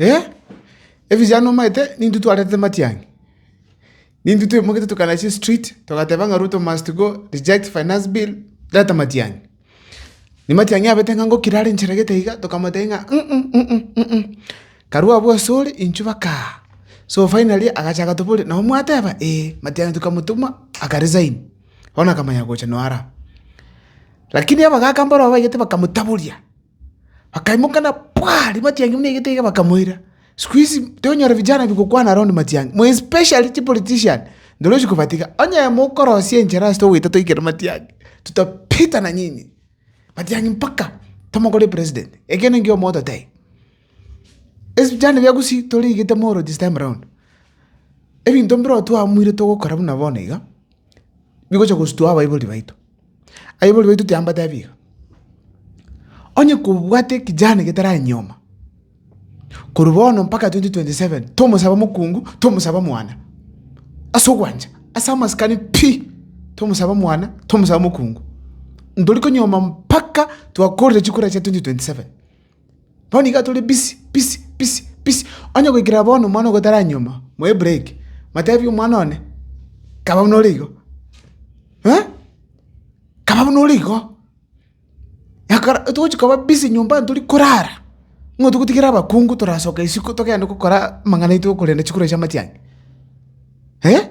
Ee, ebichara nomaete nintwe twarentete matiang'i, nintwe twaimoketie tokagenda chistreet togateba ng'a Ruto must go, reject finance bill, reta matiang'i. Ne matiang'i abete ng'a ngokire are nchera gete iga, tokamotebia ng'a karue abwo ase ore intwe baka aa. So finally agacha agatoboria nabo mwateba? Ee. Matiang'i tokamotuma aka resign, bono akamanya gocha noo ara. Lakini abagaka mboro babaigete bakamotaboria. Bakaimoka na pwaa! Rimati yange buna egete iga bakamoira. Siku hizi tonyora vijana bigokwana around matiang'i, more especially chipolitician, ndoro ochi kobatiga. Onye mokorosia enchera ase togoita toike matiang'i, tutapita na nyinyi. Matiang'i mpaka tomokore president. Ekiagera nkio mototebi. Ase vijana bia Gusii torigete mooro this time round. Ebinto mbiro twahamuire togokora buna bono iga, bigocha gosutua abaibori baito. Aibori baito tiambatebi iga. Onye kobwate ekejani getarae nyoma, korwa bono mpaka 2027, tomosaba mokungu, tomosaba mwana. Ase ogwancha, ase amasikani pi, tomosaba mwana, tomosaba mokungu. Ntori konyoma mpaka twakorire chikura chia 2027. Bono iga tore busy, busy, busy, busy. Onye goikera bono omwana ogo taranyuoma, moe break, matebi omwana one, kaba buna ore igo, eh? Kaba buna ore igo. Ekero togochia koba busy nyomba tori korara, nigo togotigera abakungu torasoka isiko togende gokora amang'ana aito okorenda chikura chia amatiang'i, eh?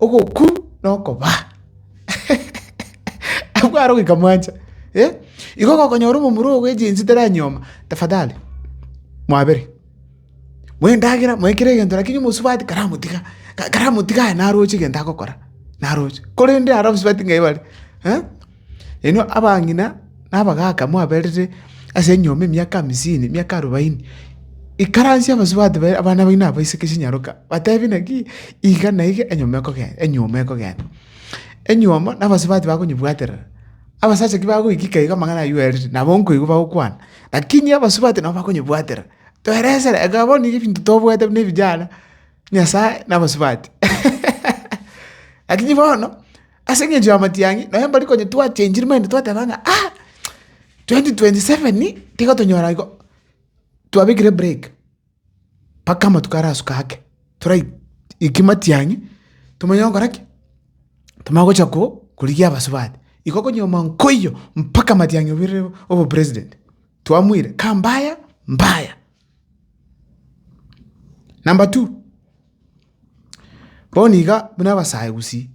Ogoku nokobaa. Abwo aro goika mwancha eh. Igo gokonyora omomura ogo egensi teranyuoma tafadhali mwabere moe endagera moe kera egento lakini omosubati karamotiga karamotiga aye naroche egento agokora naroche korende ara omosubati ng'ai bare eh. Inwe abang'ina na abagaaka mwaberire ase enyomba emiaka hamisini, emiaka arobaini, ikaransia abasubati baino, abana baino abaiseke chinyaroka, batebi naki iga na iga enyomba ekogenda, enyuoma ekogenda. Enyuoma na abasubati bakonyebwaterera, abasacha ki bagoikika iga amang'ana aywo oerire, nabo nkoigwa bagokwana, lakini abasubati nabo bakonyebwatera. Toeresera, eka bono nigo ebinto tobwate buna ebijana, Nyasae na abasubati. Lakini bono. Ase engencho y'amatiang'i, nonye mbari konya twachenchiri maybe twateba ng'a ah, 2027 tiga tonyore igo, twabekire break mpaka amatuko arasuka ake, torai eki matiang'i tomanye gokora ki, tomanye gocha ko korigia abasubati. Igo okonyuoma nkoiyo mpaka matiang'i obirire obopresident, twamuire, kambaya mbaya. Number two, bono iga buna abasayogusi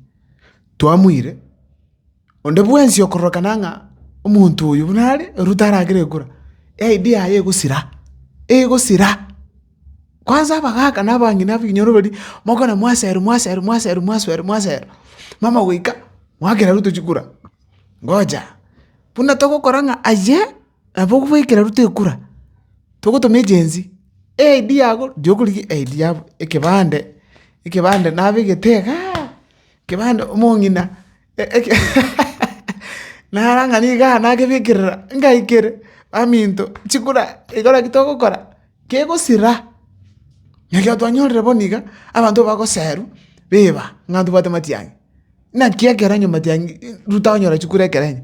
twamoire, onde bwensi okororokana ng'a omonto oyo buna are erio taragere gokora, ID yaye egosira, egosira. Kwanza abagaka na abang'ina ababinyoro baria, mokona mwasero mwasero mwasero mwaswero mwasero, mama goika, mwakera aria otochi kora, ngoja buna togokora ng'a aye. Nabo okobaikera rutwe ekura, togotoma egency, eid yabo, riria okorigia eid yabo, ekebande, ekebande nabegete igaa, ekebande omong'ina eke naro ang'e niga nagebikerera ngaikere baminto chikura igo naki togokora, kegosira. Naki ekero twanyorire bono iga, abanto bagoserwa beba, ng'a ntobwate matiang'i, naki ekero nyomatiang'i ruta onyora chikure ekero enyia.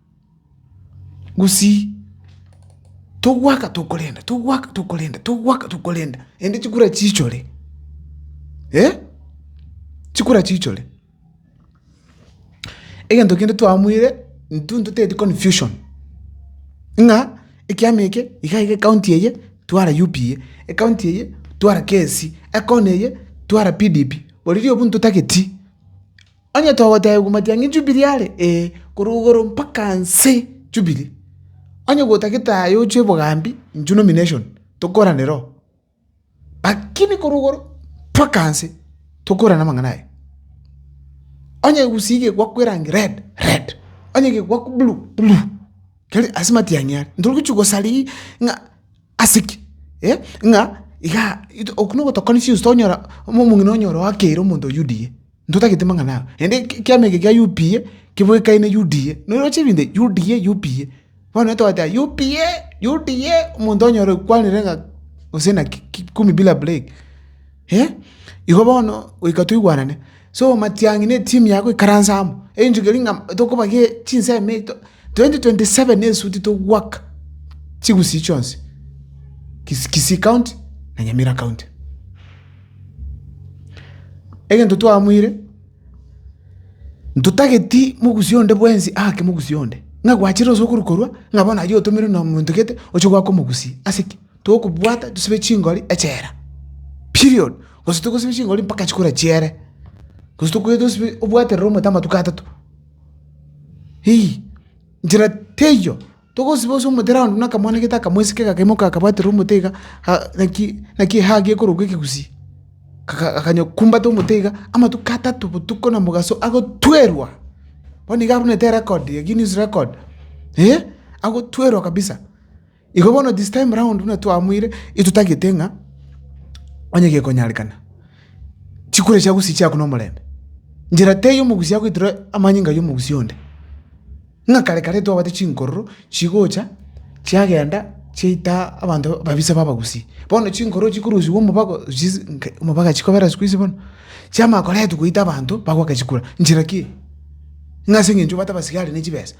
Gusii togwaka tokorenda togwaka tokorenda togwaka tokorenda ende chikura chichore eh chikura chichore. Egento kende twaamuire intwe ntoteti confusion ng'a ekiama eke iga iga ekaunti eye twara UPA ekaunti eye twara KSC ekona eye twara PDP oriri obwo ntotageti. Onye togoteebigwa matiang'i Jubili are, ee, korwa igoro mpaka nse Jubili, onye gotagete aye ochwe bogambi, inchuo nomination, tokoranera oo. Lakini korwa igoro mpaka nse, tokorana amang'ana aye. Onye egusii gegwakwa erangi red, red, onye gegwakwa blue, blue, keri ase matiang'i are. Ntogochia gosaria ng'a ase ki? eh, ng'a igaa, ito okwo nogotokoni chinsu tonyora, omong'ina onyore oakeire omonto o UDA. Ntotagete mang'ana aa. Naende ekiama eke kia UPA kebwekaine UDA. Noroche ebinto ebi, UDA, UPA. Bono onye twateba UPA, UDA, omonto onyore okwanire ng'a gose naki kumi bila break. Eh, igo bono goika toigwanane. So matiang'i na etimu yaye goikaransa amo, eng'encho keri ng'a tokobagia chinsemo eito, twenty twenty seven esuti togwaka chigusii chionsi, Kisi Kisii County na Nyamira County. Egento twamoire, ntotageti mogusia onde bwensi aake mogusia onde, ng'a gwachire gose okorwa korwa, ng'a bono aywo otomerwe nomonto gete oche goaka omogusia. Ase ki? Tokobwata tosibe chingori echela, period. Gose togosiba chingori mpaka chikore chiere, gose tokoe tosibe obwaterere omonto amatuko atato, ii, nchera teiyo Togosiba ase omotera onde, na akamwana gete akamwesika gakaimoka gakabwaterera omote iga, naki ehaa gekorokwa ekegusii, gakanya kumbata omote iga amatuko atato botuko na mogaso agotwerwa, bono iga arumete erecord, eye Guinness record eh, agotwerwa kabisa. Igo bono this time round buna twamoire intwe totagete ng'a onye gekonyarekana, chikura echiago chiche agwo na omorembe, njera teiyo omogusi agoitera amanyinga yomogusi onde. Ng'a kare kare twabate chinkororo chigocha chiagenda chiaita abanto babisa b'abagusi. Bono chinkororo chikorusigwa omobago chis nke omobaga chikobera siku hizi bono, chiamanya koretwa goita abanto bagoaka chikura. Nchera ki? Ng'a ase eng'encho obwate abasigari ne chibesa,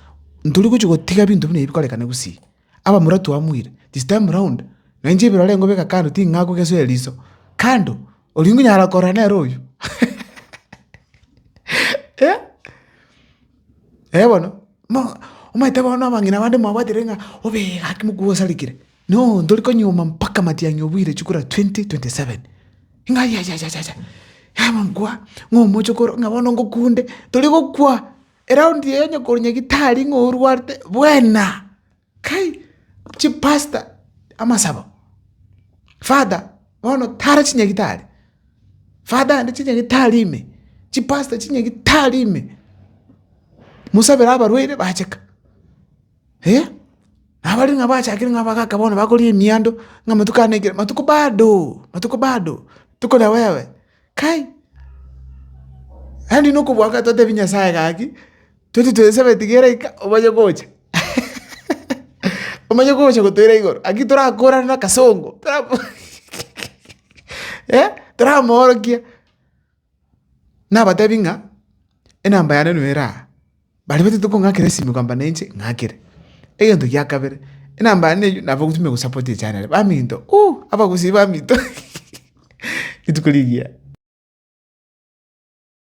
ntori gochia gotiga binto buna ebi bikorekana gusii. Abamura twamuire, this time round na inche ebirorengo beka kando ting'akogesoera riso, kando, oria ngonyara korora nere oyio. Eh, eh bono, mo omanyete bono abang'ina bande mwabwatire ng'a obe gaki mokwo osarekire, no ntori konyuoma mpaka matiang'i obuire chikura twenty twenty seven, ng'a yayayaya, yaba nkwa, ng'a omochokoro, ng'a bono ngokunde, tori gokwa. Eraundi eye onyekorunya gitari ng'a orwarete bwena, kai chipastor amasabo, father bono tara chinyagitari, father aande chinyagitari ime, chipastor chinyagitari ime, mosabere abarwaire bacheka eh, nabare ng'a bachakire ng'a abagaka bono bakoria emiando ng'a amatuko ane ekero matuko bado matuko bado tokore wewe. Kai, yaani nokobua ng'a totebie Nyasaye gaki, toti toesabe etigere ika omanye gocha omanye gocha gotoira igoro, naki torakorane na akasongo torako eh, toramoorokia, nabatebi ng'a enamba yane no eraha. Baria batete kong'akera esimi kogamba nainche ng'akere. Egento gia kabere, enamba yane eywo nabo ogotumia gosapoti echanere. Baminto uuh, abagusii baminto rituko rigiya.